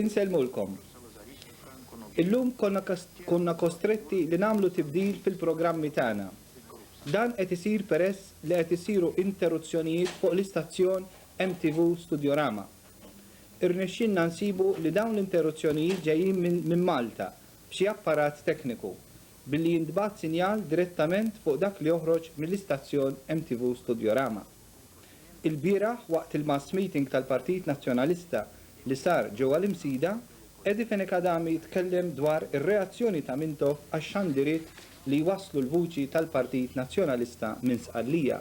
Insellmulkom. Illum konna kostretti li nagħmlu tibdil fil-programmi tagħna. Dan qed isir peress li qed isiru interuzzjonijiet fuq l-istazzjon MTV Studiorama. Irnexxielna nsibu li dawn l-interuzzjonijiet ġejjin minn Malta b'xi apparat tekniku, billi jintbagħat sinjal direttament fuq dak li joħroġ mill-istazzjon MTV Studiorama. Ilbieraħ waqt il-mass meeting tal-Partit Nazzjonalista li sar ġewwa l-Imsida, Eddie Fenech Adami tkellem dwar ir-reazzjoni ta' Mintoff għax-xandiriet li jwasslu l-vuċi tal-Partit Nazzjonalista minn Sqallija.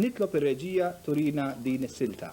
Nitlob ir-reġija turina din is-silta.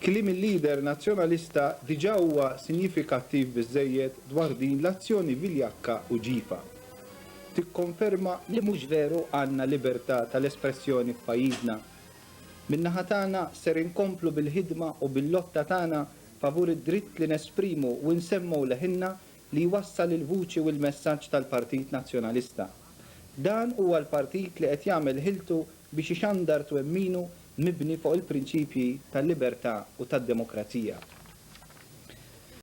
Kliem il-Leader Nazzjonalista diġà huwa sinjifikattiv biżżejjed dwar din l-azzjoni viljakka u ġifa. Tikkonferma li mhux veru għandna libertà tal-espressjoni f'pajjiżna. Min-naħa tagħna ser inkomplu bil-ħidma u bil-lotta tagħna favur id-dritt li nesprimu u nsemmgħu leħinna li jwassal il-vuċi u l-messaġġ tal-Partit Nazzjonalista. Dan huwa l-partit li qed jagħmel ħiltu biex ixandar twemminu mibni fuq il-prinċipji tal-libertà u tad-demokrazija.